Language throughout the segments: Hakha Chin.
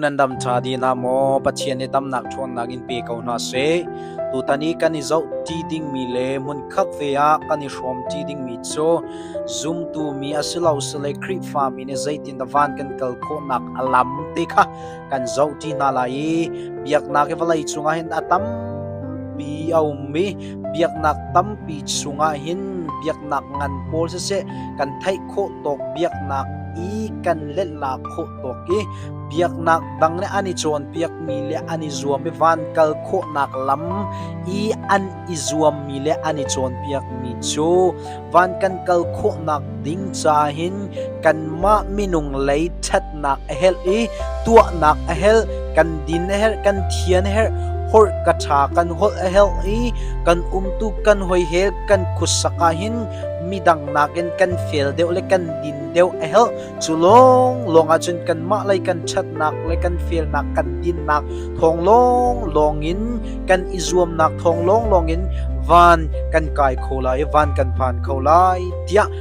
nan dam ṭha dinah maw Pathian i tamnak ṭhawnnak in pe ko hna seh. Tutan i kan i zohṭi dingmi le hmunkhat ve ah kan i hrawmṭi dingmi cu zumtu mi a si lo sile Khrihfa mi nih zeitin dah van kan kal khawhnak a lam te kha kan zohṭi hna lai i biaknak i vawlei cungah hin a tampi a um i biaknak tampi chungah hin biaknak ngan pawl siseh kan theih khawh tawk biaknak i kan lehla khawh tawk i biaknak dang le an i cawnpiakmi le an i zuam i van kal khawhnak lam i an i zuammi le an i cawnpiakmi cu van kan kal khawhnak ding ca hin kanmah minung lei ṭhat tuahnak a herh i tuahnak a herh kan din a herh kan thian a herh horh ka tha kan holh a herh i kan umtu kan hoihel kan khutsak ah hin midang nakin kan fel deuh le kan din deuh a herh cu lawng lawng ah cun kan mah lei kan ṭhatnak le kan felnak kan dinnak thawng lawng lawng in kan i zuamnak thawng lawng lawng in van kan kai kho lai van kan phan kho lai tiah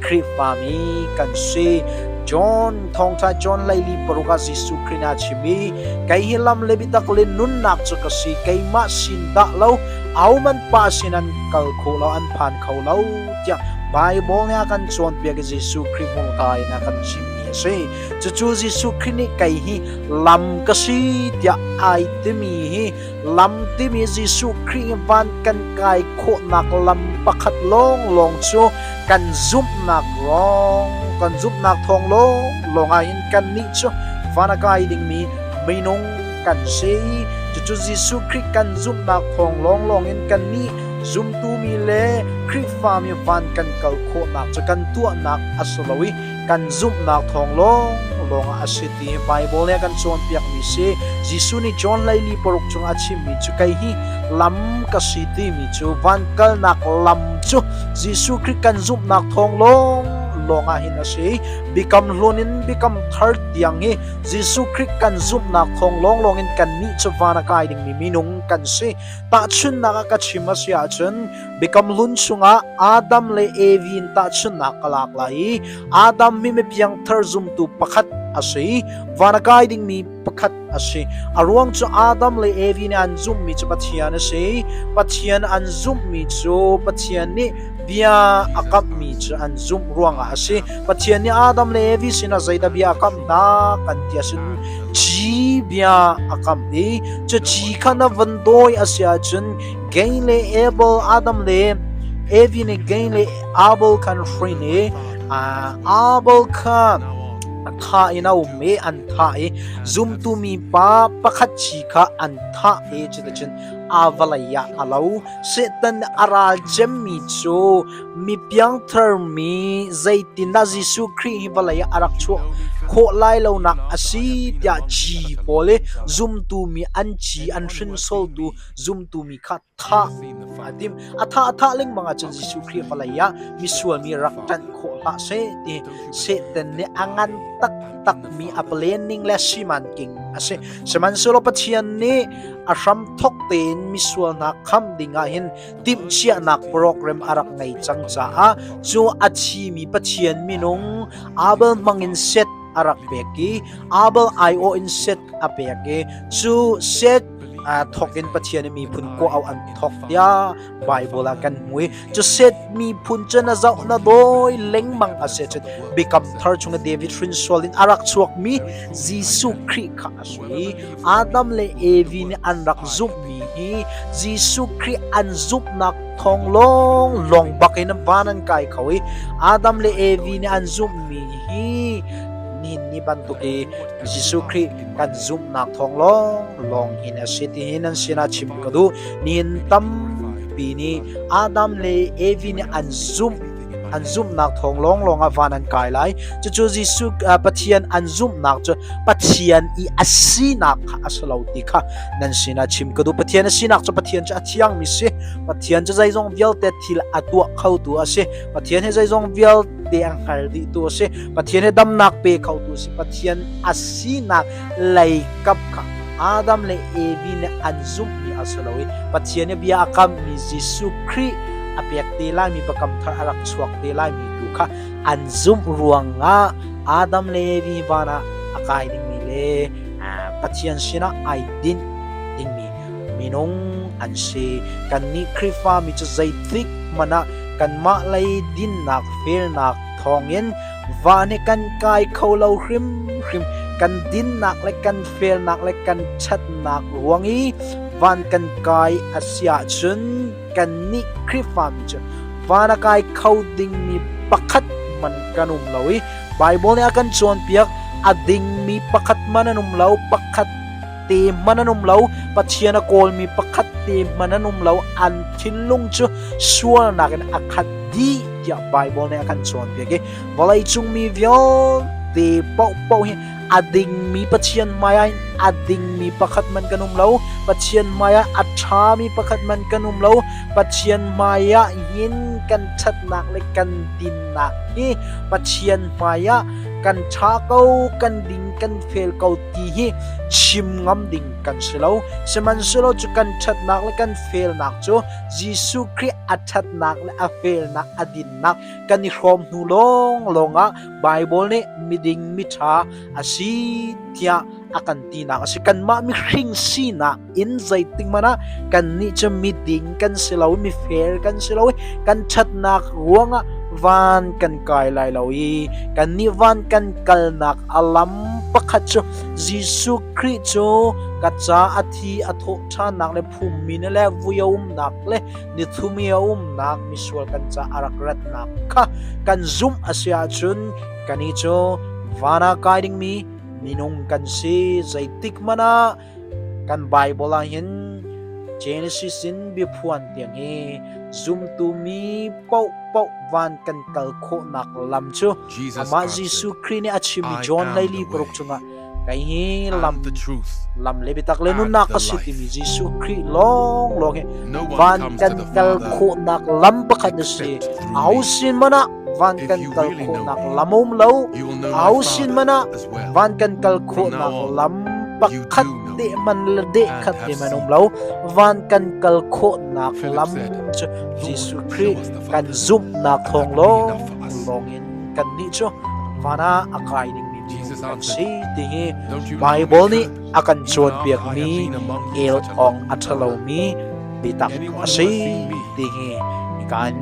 Khrihfami kan si. John thawngtha John Leili paruk ah Jesuh Khrih nih a chim i kei hi lam le biatak le nunnak cu ka si keimah sin dah lo ahohmanh pa sin an kal kho lo an phan kho lo tiah Bible nih a kan cawnpiak i Jesuh Khrih hmurka in a kan chimmi a si cucu Jesuh Khrih nih kei hi lam ka si tiah ai timi hi Lam timi Jesuh Khrih van kan kai khawhnak lam pakhat lawnglawng cu kan zumhnak lawng kan zumhnak thawng lawnglawng ah hin kannih cu van a kai dingmi minung kan si cucu Jesuh Khrih kan zumhnak thawng lawnglawng in kannih zumtu mi le Khrihfa mi van kan kal khawhnak cu kan tuahnak a si lo i kan zumhnak thawng lawnglawng ah a si ti hi Baibal nih a kan cawnpiakmi si. Jesuh nih John leili paruk cungah a chimmi cu kei hi lam ka si timi cu van kalnak lam cu Jesuh Khrih kan zumhnak thawng lawnglawng ah hin a si. Biakam hlun in Biakam thar tiang hi Jesuh Khrih kan zumhnak thawng lawnglawng in kannih cu van a kai dingmi minung kan si. Tahchunhnak ah ka chim a si ahcun Biakam Lun chungah Adam le Evi in tahchunhnak ka lak lai i Adam mi mipiangthar zumtu pakhat a si i van a kai dingmi pakhat a si a ruang cu Adam le Evi nih an zumhmi cu Pathian a si Pathian an zumhmi cu Pathian nih bia a kamhmi cu an zumh ruangah a si Pathian nih Adam le Evi sinah zeidah bia a kamh hna kan ti a sin ci bia a kamh i cu ci kha na van dawi a si ahcun Gay le Abel, Adam le Evi nih Gay le Abel kha an hrin i Abel kha a thah in a um i an thah i zumtu mi pa pakhat chi kha an thah i cuticun aa vawlei ah a lo. Satan nih a ral cemmi cu mi piangtharmi zeitindah Jesuh Khrih hi vawlei ah a rak chuah khawh lai lonak a si tiah ci pawl i zumtu mi an ci an hrinsoltu zumtu mi kha thah a timh. A thah a thah lengmang ahcun Jesuh Khrih a vawlei ah misual mi rak ṭanh khawh hlah seh ti Satan nih a ngan taktakmi a planning le siman king a si. Sihmanhsehlaw Pathian nih a hram thok tein misual hna kham dingah hin timhchiahnak program a rak ngei cang caah cu a thimi Pathian minung Abel hmangin set a rak pek i Abel aiawh in set a pek i cu set aa thawk in Pathian a miphun kua au an thawk tiah Bible ah kan hmui cu set miphun cu na zoh na dawi lengmang a se cun Biakam thar chung David hrinsual in a rak chuak mi Jesuh Khrih kha a si Adam le Evi nih an rak zumh mi hi Jesuh Khrih an zumhnak thawng lawng lawng bak in van an kai kho i Adam le Evi nih an zumh mi hi ni ni bantuk i Jesuh Khrih kan zumhnak thawng lawnglawng hin a si tihi nan sinah chim ka duh. Nihin tampi nih Adam le Evi nih an zumh an zumhnak thawng lawnglawng ah van an kai lai cucu Jesuh Pathian an zumhnak cu Pathian i a sinak kha a si lo ti kha nan sinah chim ka duh Pathian a sinak cu Pathian cu a thiangmi si Pathian cu zeizong vialte thil a tuah khotu a si Pathian hi zeizong vialte te a hngal dihtu a si pathian he damnak pe khotu si pathian a sinak leikap kha adam le evi nih an zumhmi a si lo i pathian he bia a kammi jesuh khrih a pek te laimi pakam thar a rak chuak te laimi tu kha an zumh ruangah adam le evi van ah a kai dingmi le pathian sinah ai din dingmi Minung an si. Kannih Khrihfami cu zeitik hmanh ah kanmah lei dinnak felnak thawngin va nih kan kai kho lo hrimhrim. Kan dinnak le kan felnak le kan ṭhatnak ruang i van kan kai a si ahcun kannih Khrihfami cu van a kai kho dingmi pakhat man kan um lo i Baibal nih a kan cawnpiak a dingmi pakhat man an um lo. Pakhat te hmanh an um lo pathian a kawlmi pakhat te hmanh an um lo an thinlung cu sualnak in a khat dih tiah Bible nih a kan cawnpiak i vawleicung mi vialte paohpaoh hi a dingmi pathian hmaiah in a dingmi pakhat man kan um lo pathian hmaiah a ṭhami pakhat man kan um lo pathian hmaiah hin kan ṭhatnak le kan dinnak hi pathian hmaiah kan ṭha ko kan ding kan fel ko ti hi chim ngam ding kan si lo sihmanhsehlaw cu kan ṭhatnak le kan felnak cu Jesuh Khrih a ṭhatnak le a felnak a dinnak kan i hrawm hnu lawng lawngah Baibal nih miding miṭha a si tiah a kan tinak a si kanmah mihring sinak in zeitik hmanh ah kannih cu miding kan si lo mifel kan si lo i kan ṭhatnak ruangah van kan kai lai lo i kannih van kan kalnak a lam pakhat cu Jesuh Khrih cu ka ca a thi a thawhṭhannak le phummi le vui a umnak le nithumi a umnak misual kan ca a rak ratnak kha kan zumh a si ahcun kani cu van ah kai dingmi minung kan si zeitik hmanh ah Kan Baibal ahhin Genesis in biaphuan tiang i zumtu mi paohpaoh van kan kal khawhnak lam cu amah Jesuh Khrih nih a chimmi John leili paruk chungah kei hi lam lam le biatak le nunnak a si timi Jesuh Khrih lawnglawng hi van kan kal khawhnak lam pakhat a si. A ho sin hmanh ah van kan kal khawhnak lam um lo au sin man ah van kan kal khawhnak lam pakhat te man le de khat te man um lo van kan kal khawhnak lam cu Jesuh Christ kan zumhnak thong long in kan ni cu vana akai ding mi kan si ti hi Bible nih a kan cawnpiakmi el awng a ṭhalomi biatak a si ti hi kan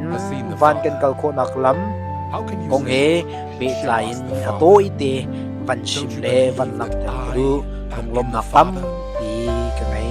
van kan kal khawhnak lam kong he pehtlai in a tawite van chim le van langhter ka duh lunglawmnak tam ti ka ngei